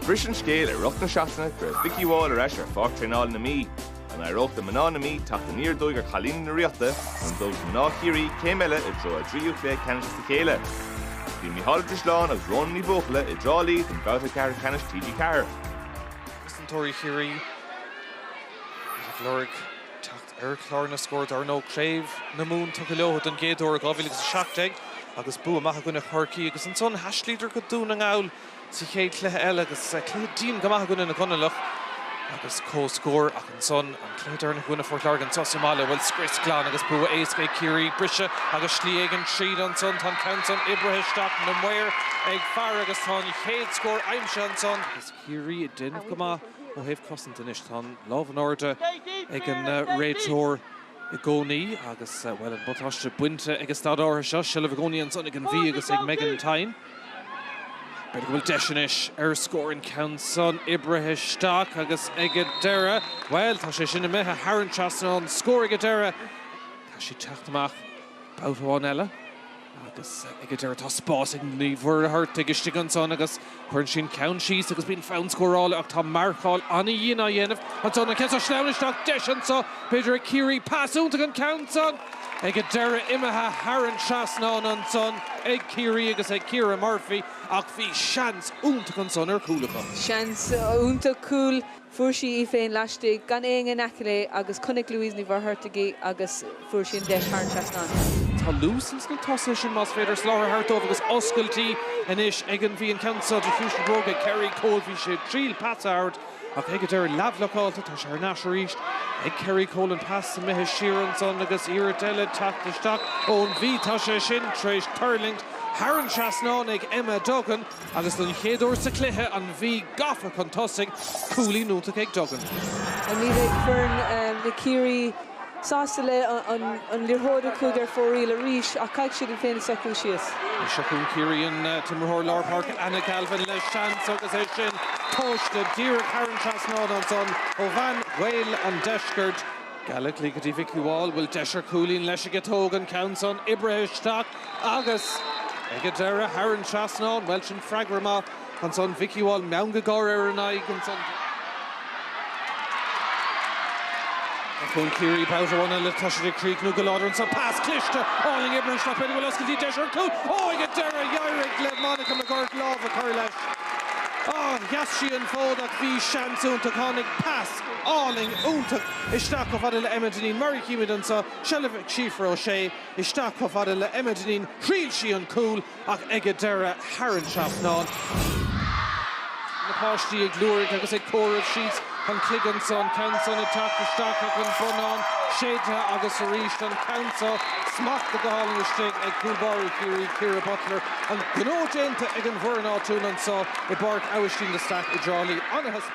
Bhris an scéal i rith na seachtaine go raibh Vikki Wall ar ais ar pháirc traenála na Mí. An éireodh do mná na Mí teacht aniar aduaidh ar chailíní na Ríochta nó an dtógfaidh mná Chiarraí céim eile i dtreo a dtríú cluiche ceannais as a chéile? Bhí Mícheál Ó Drisleáin agus Rhona Ní Bhuachalla i dTrá Lí don bhabhta ceathrú ceannais TG4. cosantóirí Chiarraí ag lorg teacht. ar chlár na scór. Dar ndóigh, Craobh na Mumhan tugtha leo don gcéad uair ó 2017 agus bua maith i gcoinne Chorcaí agus ansan thaistlíodar go Dún na nGall sa chéad chluiche eile agus cluiche dian go maith i gcoinne na gConallach agus comhscór ach ansan an cluiche deireanach i gcoinne Phort Láirge anseo sa mbaile, bhuel scrios glan agus bua éasca ag Ciarraí. Briseadh agus slí éigin tríd ansan, tá an ceann san oibrithe isteach, na maoir ag faire agus tá an chéad scór aimsithe ansan. Ciarraí ag déanamh go maith ó thaobh cosaint anois. Tá an lámh in airde ag an réiteoir i gcónaí agus, bhuel, an buntáiste bainte ag an staid áirithe seo. Seilbh i gcónaí ansan ag an Mhí agus ag Megan Thynne. B'fhéidir go bhfuil deis anois ar scór. An ceann san oibrithe isteach agus ag an deireadh, bhuel, tá sé sin imithe thar an trasnán. Scór ag an deireadh. Tá sé ag teacht amach babhta amháin eile. Agus ag a deireadh tá spás ag Ní Mhuircheartaigh istigh ansan agus cuireann sí an ceann síos agus bíonn fonn scórála ach tá marcáil an-dhian á dhéanamh ansan. An ceann seo sleamhain isteach, deis anso b'fhéidir ag Ciarraí. Pas iontach an ceann san ag a deireadh imithe thar an trasnán ansan ag Ciarraí agus ag Ciara Murphy ach bhí seans iontach ansan ar chúl acu. Seans iontach cúl. Fuair sí í féin laistigh, gan éinne in aice léi, agus chonaic Louise Ní Mhuircheartaigh í agus fuair sí an deis thar an trasnán. Tá luas ins na tosaithe sin, más féidir soláthar a thabhairt dóibh agus oscailtí anois ag an Mhí an ceann seo de chúis bhróga Kerrie Cole Bhí sé ag triail pas a thabhairt ach ag an deireadh leathbhlocáilte tá sé thar n-ais arís ag Kerrie Cole an pas imithe siar ansan agus iarracht eile teacht isteach ón Mhí tá sé sin tar éis tuirlingt thar an trasnán ag Emma Duggan. Agus don chéad uair sa chluiche, an Mhí gafa chun tosaigh, cúilín iontach ag Duggan. Ní bheidh foireann na Ciarraí sásta le an liathróid a chuaigh ar fóraoil arís ach caithfidh siad iad féin socrú síos. Seo chugainn Ciarraí an t-imreoir lár páirce Anna Galvin le seans agus é sin tomhaiste díreach thar an trasnán ansan ó bhean Ghaeil an Deiscirt. Gallogly go dtí Vikki Wall, bhfuil deis ar cúilín leis aige, tóg an ceann san, oibrithe isteach. Agus ag an deireadh, thar an trasnán, bhuel, sin freagra maith, ansan Vikki Wall, meangadh gáire ar an aghaidh, ansan. Seo chugainn Ciarraí babhta amháin eile, tá siad ag críochnú go láidir ansan, pas cliste, álainn oibrithe isteach, b'fhéidir go bhfuil oscailtí deis ar chúl, ó, ag an deireadh, d'éirigh le Monica McGuirk lámh a chur leis, á, sheas sí an fód ach bhí seans iontach, tháinig pas álainn iontach isteach chomh fada le Emma Dineen, mar a chímid anso, seilbh ag Síofra O'Shea, Isteach chomh fada le Emma Dineen, thriail sí an cúl ach ag an deireadh tharraing sí trasnán. Na páistí ag liúirigh agus ag comhaireamh síos an cloig anso, an ceann san ag teacht isteach ach an bonnán séidthe agus arís an ceann so. Smachtaithe go hálainn istigh ag cúl báire Chiarraí, Ciara Butler. An gnó déanta ag an bhfoireann áitiúil anso i bPáirc Abhaistín de Staic i dTrá Lí. Ana-thaispeántas.